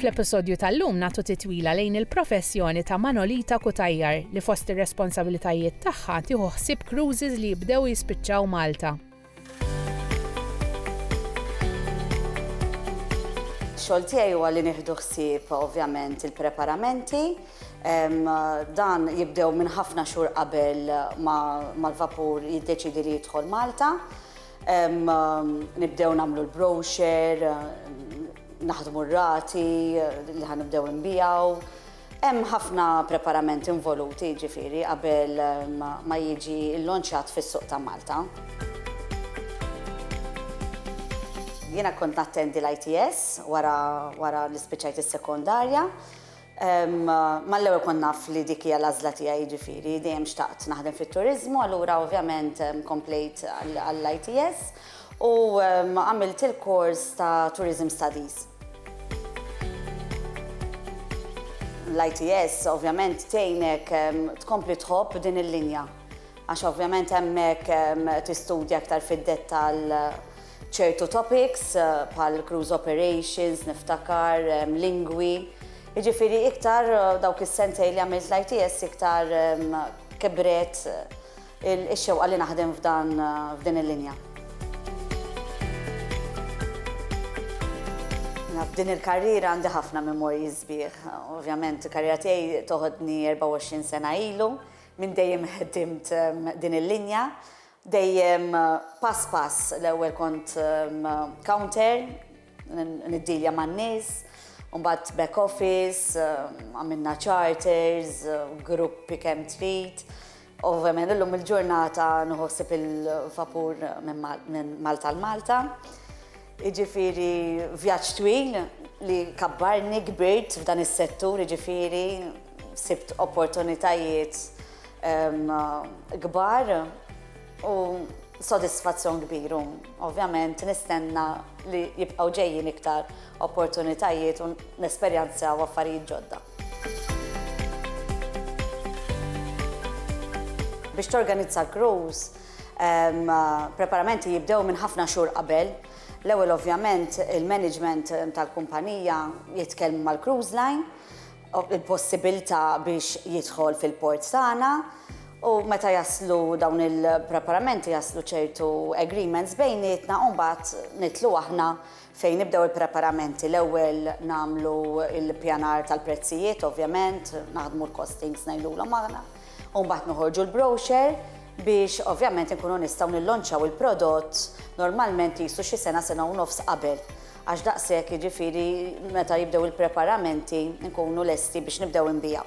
Fl-episodju tal-lum nagħtu titwila lejn il-professjoni ta' Manolita Kutajjar li fost ir-responsabilitajiet tagħha tieħu ħsieb cruises li jibdew jispiċċaw Malta. Xogħol tiegħi huwa li nieħdu ħsieb ovvjament il-preparamenti Dan jibdew minn ħafna xhur qabel ma l-vapur jiddeċiedi li jidħol Malta. Nibdew nagħmlu l-browxer, naħdmu r-rati li ħa nibdew inbijaw. Hemm ħafna preparament involuti ġifieri qabel ma jiġi l-lonċat fis-suq ta' Malta. Jiena kont nattendi l-ITS wara li spiċċajt is-sekondarja. Mal-ewwel kont naf li dik hija l-għażla tiegħi, jiġifieri dejjem xtaqt naħdem fit-turiżmu, allura ovvjament komplejt għall-ITS u għamilt il-kors ta' Tourism Studies. L-ITS ovvjament tgħinek tkompli tħobb din il-linja għax ovvjament hemmhekk tistudja aktar fid-dettall ċertu topics bħal cruise operations, niftakar, lingwi, jiġifieri iktar dawk is-sentejn li għamilt l-ITS iktar kibret ix-xewqa li naħdem f'dan f'din il-linja. F'din il-karriera għandi ħafna memorji sbieħ. Ovvjament il-karriera tiegħi toħodni 24 sena ilu, minn dejjem ħdimt din il-linja Dejjem pass pass, l-ewwel kont counter, niddilja man-nies, u mbagħad back office, għamilna charters, gruppi kemm trid. Ovvjament illum il-ġurnata nieħu ħsieb il-vapur minn Malta għal Malta. Jiġifieri vjaġġ twil li kabbarni, kbirt f'dan is-settur, jiġifieri sibt opportunitajiet kbar u sodisfazzjon kbir u ovvjament nistenna li jibqgħu ġejjin iktar opportunitajiet u nesperjanzaw affarijiet ġodda. Biex torganizza cruise, Preparamenti jibdew minn ħafna xhur qabel. L-ewwel ovvjament il-management tal-kumpanija jitkellmu mal-cruise line u l-possibilità biex jidħol fil-port tagħna u meta jaslu dawn il-preparamenti jaslu ċertu agreements bejnietna u mbagħad nidħlu aħna Fejn nibdew il-preparamenti, l-ewwel nagħmlu l-ippjanar tal-prezzijiet ovvjament, naħdmu l-costings ngħidulhom aħna, u mbagħad noħorġu l-brochure biex ovvjament inkunu nistgħu nillonċaw il-prodott normalment qisu xi sena, sena u nofs qabel. Għax daqshekk jiġifieri meta jibdew il-preparamenti nkunu lesti biex nibdew inbigħu.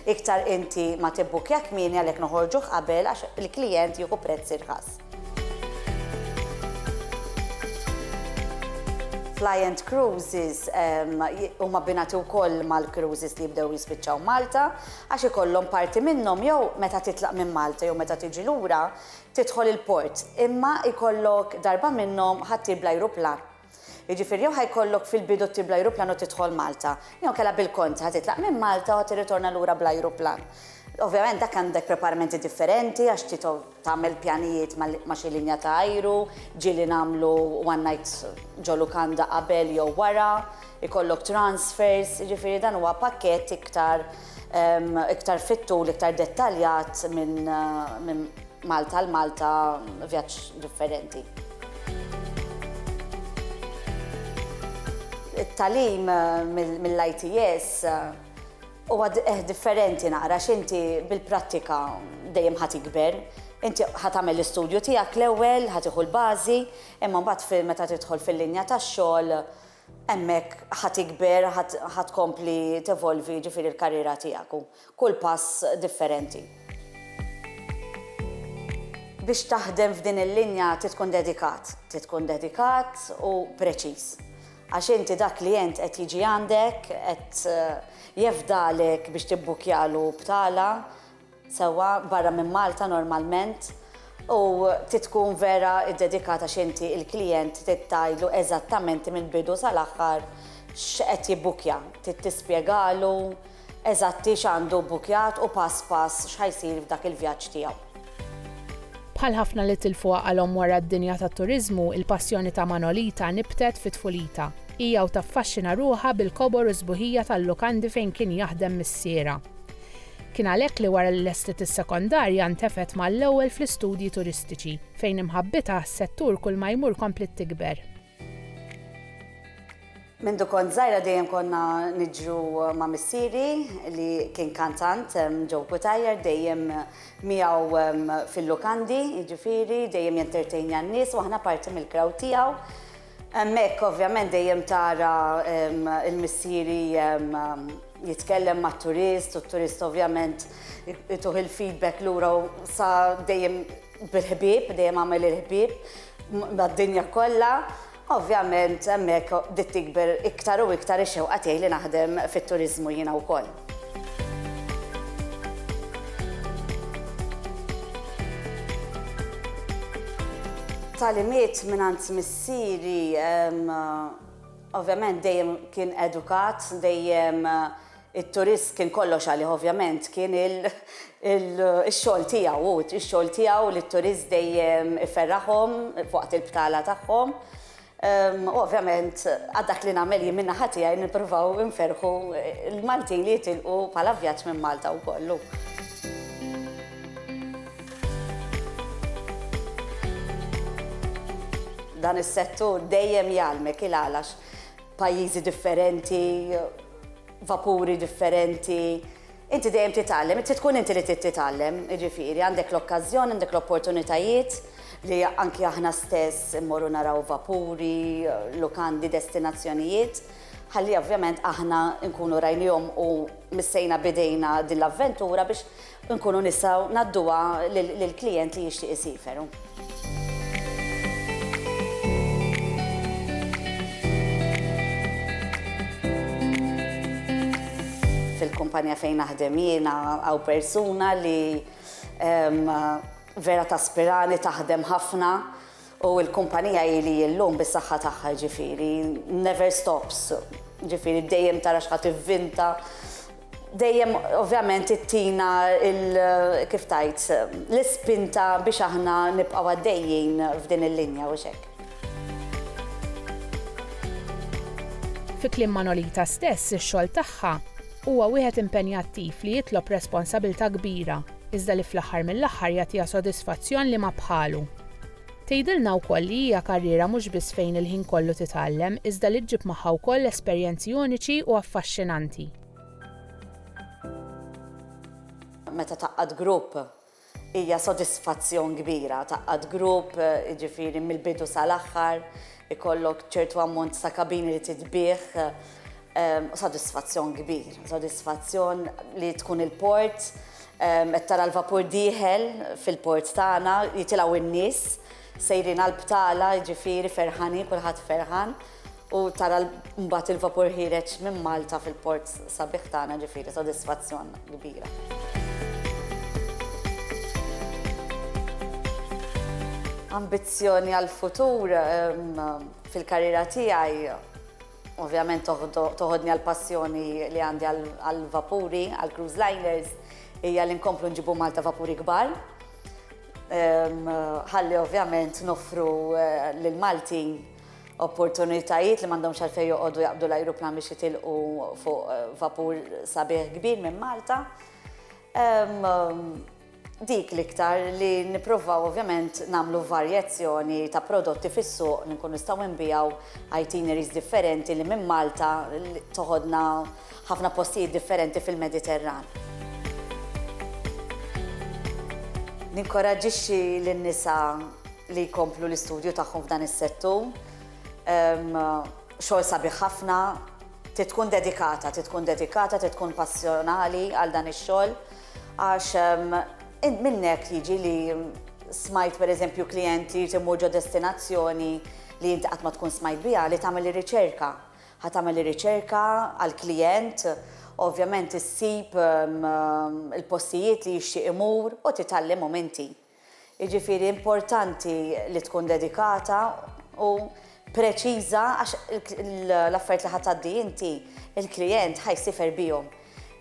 Iktar inti ma tibbukkja kmieni għalhekk noħorġuh qabel għax il-klijent jieħu prezz irħas. Flyent Cruises huma abbinati wkoll mal-cruises li jibdew jispiċċaw Malta għax ikollhom parti minnhom jew meta titlaq minn Malta jew meta tiġi lura tidħol il-port imma jkollok darba minnhom ħaddieħor bl-ajruplan Jiġifieri jew ħa jkollok fil-bidu ttir bl-ajruplan u tidħol Malta, jew inkella bil-kontra, ħa titlaq minn Malta u ħa tirritorna lura bl-ajruplan. Ovvjament dak għandek preparamenti differenti għax trid tagħmel pjanijiet ma' xi linja ta' ajru, ġieli nagħmlu one night ġo lukanda qabel jew wara, ikollok transfers, jiġifieri dan huwa pakkett iktar iktar fit-tul, iktar dettaljat minn Malta għal Malta vjaġġ differenti. It-tagħlim mill-ITS huwa differenti naqra għax inti bil-prattika dejjem ħa tikber. Inti ħa tagħmel l-istudju tiegħek l-ewwel, ħa tieħu l-bażi, imma mbagħad meta tidħol fil-linja tax-xogħol hemmhekk ħa tikber, ħa tkompli tevolvi jiġifieri l-karriera tiegħek. kull pass differenti. Biex taħdem f'din il-linja trid tkun dedikat. Trid tkun dedikat u preċiż. Għax inti dak klijent qed jiġi għandek, qed jefdalek biex tibbukkjalu btala, sewwa, barra minn Malta normalment, u trid tkun vera ddedikat għax inti l-klijent trid tgħidlu eżattament mill-bidu sal-aħħar x'qed jibbukkja. Trid tispjegalu. eżatti x'għandu bbukkjat u pass pass x'ħa jsir f'dak il-vjaġġ tiegħu. Bħal ħafna li tilfu għaqalhom wara d-dinja tat-turiżmu, il-passjoni ta' Manolita nibtet fi tfulita. Hija u taffaxxina ruħha bil-kobor u s-sbuħija tal-lukandi fejn kien jaħdem missierha. Kien għalhekk li wara li lestiet is-sekondarja ntefgħet mal-ewwel fl-istudji turistiċi, fejn imħabbitha għas-settur kulma jmur kompliet tikber. Mindu kont żgħira dejjem konna niġru ma' missieri li kien kantant ġew Kutajjar dejjem miegħu fil-lukandi, jiġifieri dejjem jentertejnja n-nies u aħna parti mill-crowd tiegħu. Hemmhekk ovvjament dejjem tara l-missieri jitkellem mat-turist u t-turist ovvjament ituh il-feedback lura u sa dejjem Bil-ħbieb, dejjem agħmel il-ħbieb mad-dinja kollha. Ovvjament hemmhekk bdiet tikber iktar u iktar ix-xewqa tiegħi li naħdem fit-turiżmu jiena wkoll. Tagħlimiet mingħand missieri, ovvjament dejjem kien edukat, dejjem It-turist kien kollox għalih ovvjament, kien ix-xogħol tiegħu hu, ix-xogħol tiegħu li t-turist dejjem iferraħhom f'waqt il-btala tagħhom. U ovvjament għad dak li nagħmel jien min-naħa tiegħi nippruvaw inferrħu l-Maltin li jitilqu bħala vjaġġ minn Malta wkoll hu. Dan is-settur dejjem jgħallmek il-għalax. Pajjiżi differenti, vapuri differenti, inti dejjem titgħallem, trid tkun inti li trid titgħallem, jiġifieri għandek l-okkażjoni, għandek l-opportunitajiet li anki aħna stess immorru naraw vapuri, lukandi, destinazzjonijiet, ħalli ovvjament aħna nkunu rajniehom u missejna b'idejna din l-avventura biex nkunu nistgħu ngħadduha lill-klijent li jixtieq isiefer. Fil-kumpanja fejn naħdem jiena hawn persuna li vera taspirani taħdem ħafna U l-kumpanija hi li hi llum bis-saħħa tagħha jiġifieri never stops, jiġifieri dejjem tara x'ħa tivvinta, dejjem ovvjament ittina l kif tgħid l-ispinta biex aħna nibqgħu għaddejjin f'din il-linja hux hekk? Fi kliem Manolita stess ix-xogħol tagħha huwa wieħed impenjattiv li jitlob responsabilta' kbira iżda li fl-aħħar mill-aħħar jagħtiha sodisfazzjon li ma bħalu. Tgħidilna wkoll li hija karriera mhux biss fejn il-ħin kollu titgħallem iżda li ġġib magħha wkoll esperjenzi uniċi u affaxxinanti. Meta tgħaqqad grupp hija sodisfazzjon kbira, tgħaqqad grupp jiġifieri mill-bidu sal-aħħar, ikollok ċertu ammont ta' kabini li titbiegħ, sodisfazzjon kbir, sodisfazzjon li tkun il-port Qed tara l-vapur dieħel fil-port tagħna, jitilgħu n-nies, sejrin għall-btala, jiġifieri ferħanin, kulħadd ferħan, u tara mbagħad il-vapur ħiereġ minn Malta fil-port sabiħ tagħna, jiġifieri sodisfazzjon kbira. Ambizzjoni għall-futur fil-karriera tiegħi? Ovvjament toħodni għall-passjoni li għandi għall-vapuri, għall-cruise liners, hija li nkomplu nġibu Malta vapuri kbar. Ħalli ovvjament noffru lill-Maltin opportunitajiet li m'għandhomx għalfejn joqogħdu jaqbdu l-ajruplan biex jitilqu fuq vapur sabiħ kbir minn Malta. Dik l-iktar li nipprovaw ovvjament nagħmlu varjazzjoni ta' prodotti fis-suq li nkunu nistgħu nbigħu itineraries differenti li minn Malta toħodna ħafna postijiet differenti fil-Mediterran. Ninkoraġġixxi lin-nisa li jkomplu l-istudju tagħhom f'dan is-settur. Xogħol sabiħ ħafna, trid tkun dedikata, trid tkun dedikata, trid tkun passjonali għal dan ix-xogħol Għax minnek jiġi li smajt pereżempju klijent li jrid imur ġo destinazzjoni li inti qatt ma tkun smajt biha li tagħmel ir-riċerka. Ħa tagħmel ir-riċerka għall-klijent, ovvjament issib il-postijiet li jixtieq imur u titgħallimhom inti. Jiġifieri importanti li tkun dedikata u preċiża għax l-affarijiet li ħa tgħaddi inti, il-klijent ħa jsiefer bihom.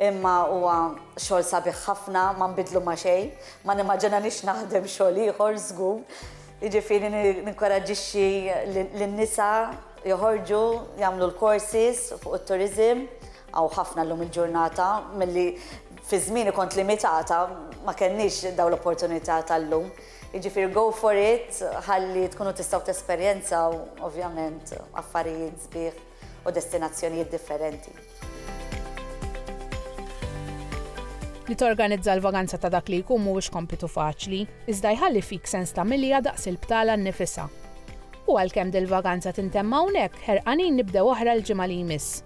Imma huwa xogħol sabiħ ħafna, ma nbiddlu ma' xejn, ma nimmaġinanix naħdem xogħol ieħor żgur. Jiġifieri ninkoraġġixxi lin-nisa joħorġu jagħmlu l-courses fuq it-tourism Hawn ħafna llum il-ġurnata milli fi żmieni kont limitata ma kellniex dawn l-opportunità tal-lum. Jiġifieri go for it ħalli tkunu tistgħu tesperjenzaw ovvjament affarijiet sbieħ u destinazzjonijiet differenti. Li torganizza l-vaganza ta' dak li jkun mhuwiex kompitu faċli, iżda jħalli fik sens ta' milja daqs il-btala nnifisha. U għalkemm dil-vaganza tintemm hawnhekk, ħerqanin nibdew oħra l-ġimgħa li jmiss.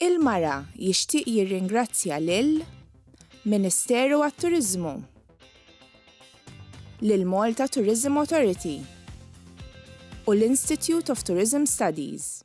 Il-Mara jixtieq jirringrazzja lil Ministeru għat-Turiżmu, lill-Malta Tourism Authority u l-Institute of Tourism Studies.